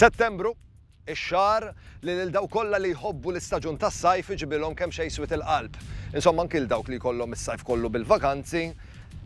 Settembru, ix-xahar li lil dawk kollha li jħobbu l-istaġun tas-sajf iġibilhom kemm xejn swied il-qalb. Insomma anki 'l dawk li jkollhom is-sajf kollu bil-vakanzi,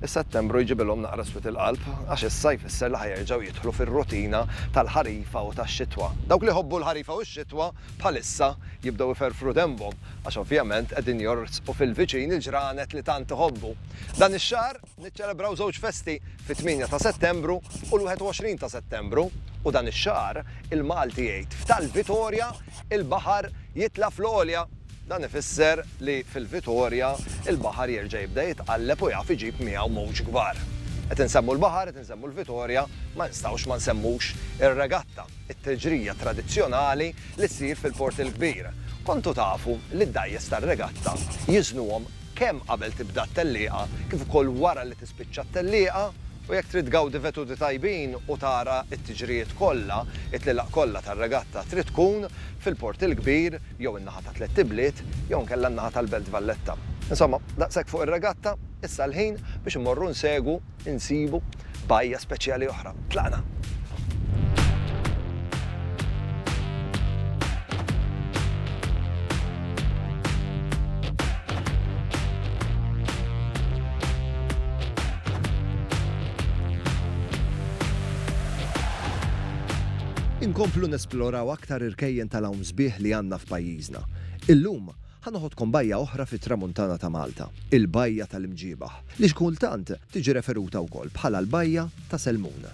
Is-Settembru jġibilhom naqra swied il-qalb għax issa jfisser li ħa jerġgħu jidħlu fir-rutina tal-ħarifa u tax-xitwa. Dawk li jħobbu l-ħarifa u x-xitwa bħalissa jibdew iferfru denbhom għax ovvjament qegħdin jorsqu fil-viċin il-ġranet li tant iħobbu. Dan ix-xahar niċċelebraw żewġ festi, fit-tmienja ta' Settembru u l-21 ta' Settembru. U dan ix-xahar il-Malti jgħid f'tal-Vitorja il-baħar jitla' fl-għolja. Dan ifisser li fil-Vitorja l-baħar jerġa' jibda jitqalleb u jaf iġib miegħu mowġ kbar. Qed insemmu l-baħar, qed insemmu l-Vitorja, ma nistgħux ma nsemmux ir-regatta, it-teġrija tradizzjonali li ssir fil-Port il-Kbir. Kontu tafu li d-dgħajjes tar-regatta jiżnuhom kemm qabel tibda t-tellieqa kif ukoll wara li tispiċċa t-tellieqa? U jekk trid tgawdi veduti tajbin u tara t-tiġrijiet kollha, it-tlielaq kollha tar-regatta trid tkun fil-Port il-Kbir. jew in-naħa ta' Tlett Ibliet, jew inkella n-naħa tal-Belt Valletta. Insomma, daqshekk fuq ir-regatta, issa l-ħin biex immorru nsegwu, insibu, bajja speċjali oħra. Tlaqna! Inkomplu nesploraw aktar irkejjen tal-hawn. sbieħ li għandna f'pajjiżna. Illum, ħa noħodkom bajja oħra fit-Tramuntana ta' Malta, il-Bajja tal-Imġiebaħ, li xi kultant tiġi referuta wkoll bħala l-Bajja ta' Selmun.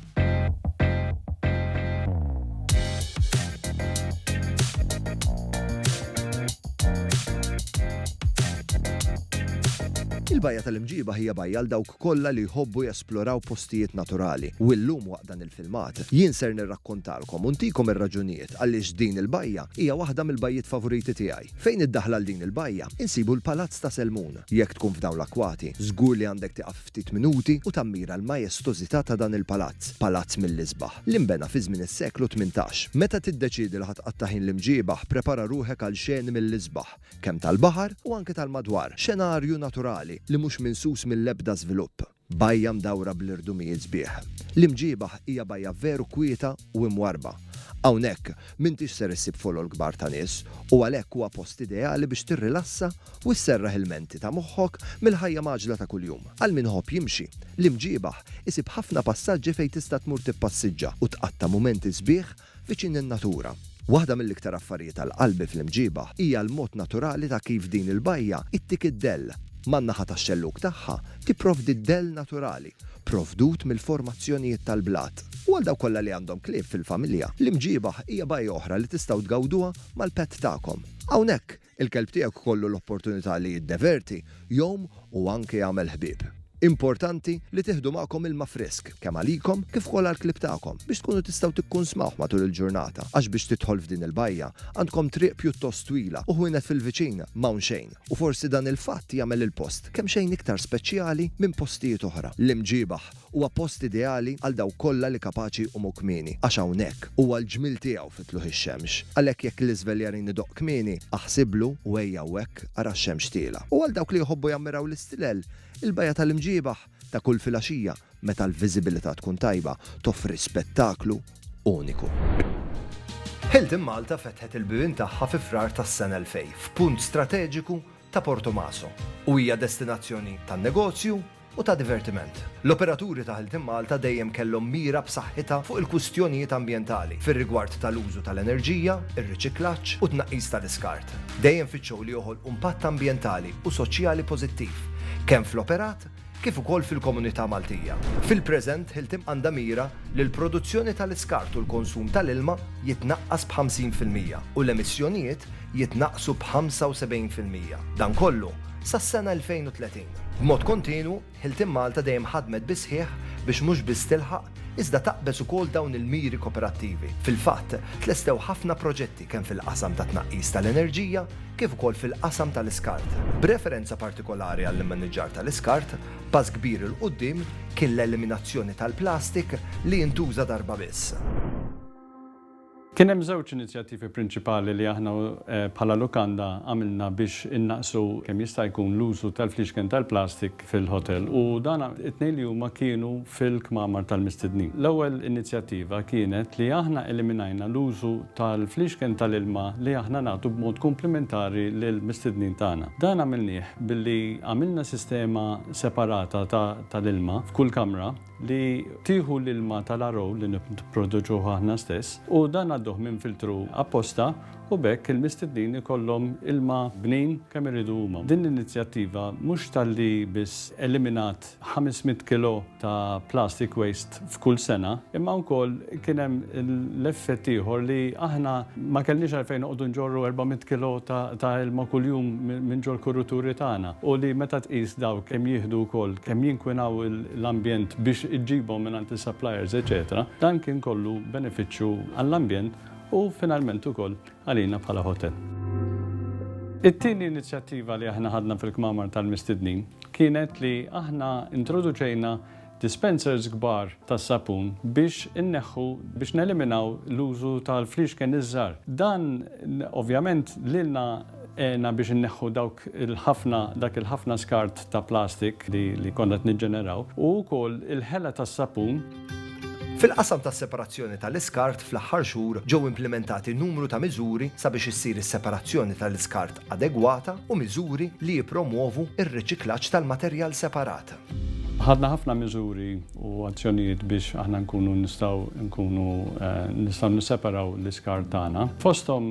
Il-Bajja tal-Imġiebaħ hija bajja għal dawk kollha li jħobbu jesploraw postijiet naturali u illum waqt dan il-filmat jien ser nirrakkontalkom u ntikom ir-raġunijiet għaliex din il-bajja hija waħda mill-bajjiet favoriti tiegħi. Fejn id-daħla għal din il-bajja insibu l-Palazz ta' Selmun. Jekk tkun f'dawn l-akwati żgur li għandek tieqaf ftit minuti u tammira l-majestożità ta' dan il-palazz, palazz mill-isbaħ, li nbena fi żmien is-seklu tmintax. Meta tiddeċiedi li ħa tqatta' ħin l-imġieba prepara ruħek għal xeni mill-isbaħ. kemm tal-baħar u anke tal-madwar, xenarju naturali li mhux minsus mill-ebda żvilupp. Bajja mdawra bl-irdumijiet sbieħ. L-Imġiebaħ hija bajja veru kwieta u imwarrba. Hawnhekk m'intix ser issib folol kbar ta' nies u għalhekk huwa post ideali biex tirrilassa u sserraħ il-menti ta' moħħok mill-ħajja mgħaġġla ta' kuljum. Għal min iħobb jimxi, l-Imġiebaħ isib ħafna passaġġi fejn tista' tmur tippassiġġa u tqatta' mumenti sbieħ Viċin lin-natura. Waħda mill-iktar affarijiet għal qalbi fl-Imġiebah hija l-mod naturali ta' kif din il-bajja ittik id-dell. Man-naħa tax-xellug tagħha tipprovdi d-dell naturali provdut mill-formazzjonijiet tal-blat. U għal dawk kollha li għandhom klieb fil-familja, l-Imġiebah hija bajja oħra li tistgħu tgawduha mal-pet tagħkom. Hawnhekk, Il-kelb tiegħek ikollu l-opportunità li jiddeverti, jgħum u anke jagħmel ħbieb. Importanti li tieħdu magħkom ilma frisk, kemm għalikom kif ukoll għall-klieb tagħkom, biex tkunu tistgħu tikkunsmawh matul il-ġurnata għax biex tidħol f'din il-bajja għandkom triq pjuttost twila u ħwienet fil-viċin m'hawn xejn u forsi dan il-fatt jagħmel il-post kemxejn iktar speċjali minn postijiet oħra. L-imġiebaħ Huwa post ideali għal dawk kollha li kapaċi jqumu kmieni, għax hawnhekk huwa l-ġmiel tiegħu fi tlugħ ix-xemx. Għalhekk jekk l-iżveljarin idoqq kmieni, aħsiblu u ejja hawnhekk ara x-xemx tielgħa. U għal dawk li jħobbu jammiraw l-istilel, il-bajja tal-imġiebaħ ta' kull filgħaxija, meta l-viżibilità tkun tajba, toffri spettaklu uniku. Hilton Malta fetħet il-bibien tagħha fi Frar tas-sena 2000 f'punt strateġiku ta' Portomaso u hija destinazzjoni tan-negozju, u ta' divertiment. L-operaturi ta' Ħeltin Malta dejjem kellhom mira b'saħħitha fuq il-kwistjonijiet ambjentali fir-rigward tal-użu tal-enerġija, ir-riċiklaġġ u t-tnaqqis tal-iskart. Dejjem fittxew li joħolqu impatt ambjentali u soċjali pożittiv, kemm fl-operat kif ukoll fil-komunità Maltija. Fil-preżent, Ħiltim għandha mira li l-produzzjoni tal-iskart u l-konsum tal-ilma jitnaqqas b' 50 fil-mija u l-emissjonijiet jitnaqqsu b'75 fil-mija, dan kollu sas-sena 2030. B'mod kontinwu, Hilton Malta dejjem ħadmet bis-sħiħ biex mhux biss tilħaq, iżda taqbeż ukoll dawn il-miri koperattivi. Fil-fatt, tlestew ħafna proġetti kemm fil-qasam tat-tnaqqis tal-enerġija kif ukoll fil-qasam tal-iskart. B'referenza partikolari għall-immaniġġar tal-iskart, pass kbir 'il quddiem kien l-eliminazzjoni tal-plastik li jintuża darba biss. Kien hemm żewġ inizjattivi prinċipali li aħna bħala lukanda għamilna biex innaqqsu kemm jista' jkun l-użu tal-fliexken tal-plastik fil-ħotel u dan it-tnejn li huma kienu fil-kmamar tal-mistednin. L-ewwel inizjattiva kienet li aħna eliminajna l-użu tal-fliexken tal-ilma li aħna nagħtu b'mod kumplimentari lill-mistednin tagħna. Dan għamilnieh billi għamilna sistema separata ta' tal-ilma f'kull kamra, li tieħu l-ilma tal-RO li nipproduċuh aħna stess u dan ngħadduh minn filtru apposta u b'hekk il-mistednin ikollhom ilma bnin kemm iridu huma. Din l-inizjattiva mhux talli biss eliminat 500 kilo ta' plastic waste f'kull sena, imma wkoll kien hemm l-effett ieħor li aħna ma kellniex għalfejn noqogħdu nġorru 400 kilo ta' ilma kuljum minn ġol-kuruturi tagħna u li meta tqis dawk kemm jieħdu wkoll, kemm jinkwinaw l-ambjent biex iġġibhom mingħand is-suppliers eċċetera, dan kien kollu benefiċċju għall-ambjent u finalment ukoll għalina bħala ħotel. It-tieni inizjattiva li aħna ħadna fil-kmamar tal-mistednin kienet li aħna introduċejna dispensers kbar tas-sapun biex inneħħu, biex neliminaw l-użu tal-fliexken iż-żgħar. Dan ovvjament lilna Għenna biex inneħħu dawk il-ħafna, dak il-ħafna skart ta' plastik li konna qed niġġeneraw u wkoll il-ħela tas-sapun. Fil-qasam tas-separazzjoni tal-iskart fl-aħħar xhur ġew implimentati numru ta' miżuri sabiex issir is-separazzjoni tal-iskart adegwata u miżuri li jippromwovu r-riċiklaġġ tal-materjal separat. Ħadna ħafna miżuri u azzjonijiet biex aħna nkunu nistgħu nkunu nistgħu nisseparaw l-iskart tagħna. Fosthom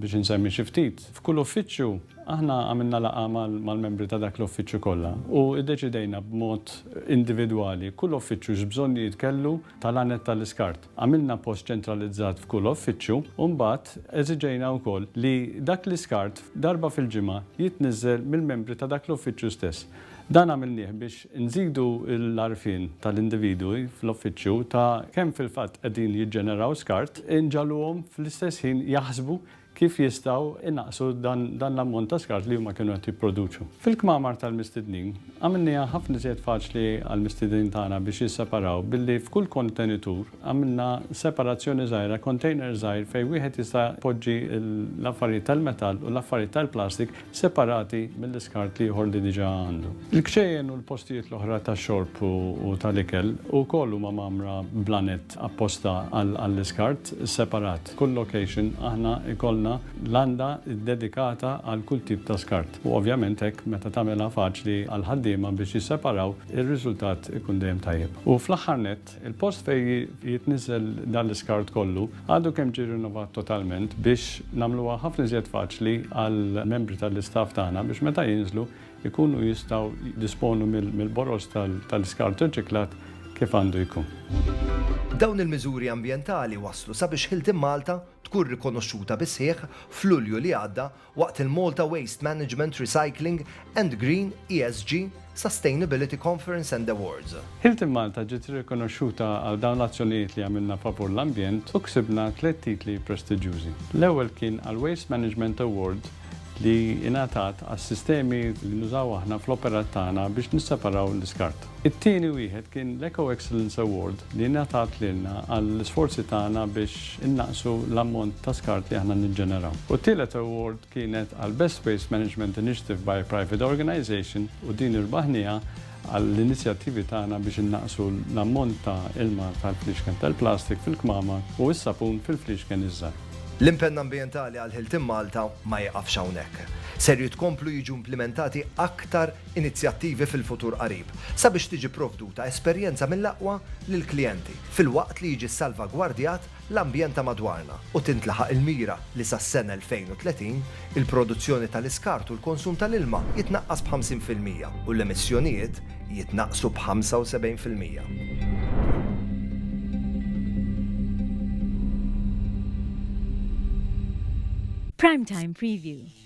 Biex insemmi xi ftit, f'kull uffiċċju aħna għamilna laqgħa mal-membri ta' dak l-uffiċċju kollha u iddeċidejna b'mod individwali kull uffiċċju x'bżonnijiet kellu tal-għanet tal-iskart. Għamilna post ċentralizzat f'kull uffiċċju u mbagħad eżiġejna wkoll li dak l-iskart darba fil-ġimgħa jitniżżel mill-membri ta' dak l-uffiċċju stess. Dan għamilnieh biex Nżidu l-għarfien tal-individwi fl-uffiċċju ta' kemm fil-fatt qegħdin jiġġeneraw skart, inġagħluhom fl-istess ħin jaħsbu kif jistgħu jnaqqsu dan l-ammont ta' skart li huma kienu qed jipproduċu. Fil-kmamar tal-mistednin, għamilniha ħafna iżjed faċli għall-mistiednin tagħna biex jisseparaw billi f'kull kontenitur għamilna separazzjoni żgħira, kontejner żgħir fejn wieħed jista' jpoġġi l-affarijiet tal-metall u l-affarijiet tal-plastik separati mill-iskart l-ieħor li diġà għandu. Il-kċejjen u l-postijiet l-oħra tax-xorb u tal-ikel ukoll huma mgħammra b'lanett apposta għall-iskart separat. F'kull location aħna jkollna landa ddedikata għal kull tip ta' skart u ovvjament hekk meta tagħmilha faċli għall-ħaddiema biex jisseparaw ir-riżultat ikun dejjem tajjeb. U fl-aħħar nett, Il-post fejn jitniżżel dan l-iskart kollu għadu kemm ġie rinnovat totalment biex nagħmluha ħafna iżjed faċli għall-membri tal-istaff tagħna biex meta jinżlu jkunu jistgħu jiddisponu mill-boroż tal-iskart irċiklat kif għandu jkun. Dawn il-miżuri ambjentali wasslu sabiex Hilton Malta tkun rikonoxxuta bis-sħiħ f'Lulju li għadda waqt il-Malta Waste Management Recycling and Green, ESG, Sustainability Conference and Awards. Hilton Malta ġiet irrikonoxxuta għal dawn l-azzjonijiet li għamilna favur l-ambjent u ksibna tliet titli prestiġjużi. L-ewwel kien għall-Waste Management Award li ingħatat għas-sistemi li nużaw aħna fl-operat tagħna biex nisseparaw l-iskart. It-tieni wieħed kien l-Eco Excellence Award li ngħatat lilna għall-isforzi tagħna biex innaqqsu l-ammont ta' skart li aħna niġġeneraw. U t-tielet award kienet għall-Best Waste Management Initiative by a Private Organization u din irbaħnieha għall-inizjattivi tagħna biex innaqqsu l-ammont ta' ilma tal-fliexken tal-plastik fil-kmamar u s-sapun fil-fliexken iż-żgħar. L-impenn ambjentali għal Hilton Malta ma jiqafx hawnhekk. Ser jitkomplu jiġu implimentati aktar inizjattivi fil-futur qarib sabiex tiġi pprovduta esperjenza mill-aqwa lill-klijenti, filwaqt li jiġi ssalvagwardjat l-ambjent ta' madwarna u tintlaħaq il-mira li sas-sena 2030 il-produzzjoni tal-iskart u l-konsum tal-ilma jitnaqqas b'50 fil-mija u l-emissjonijiet jitnaqqsu b'75 fil-mija. Prime Time Preview.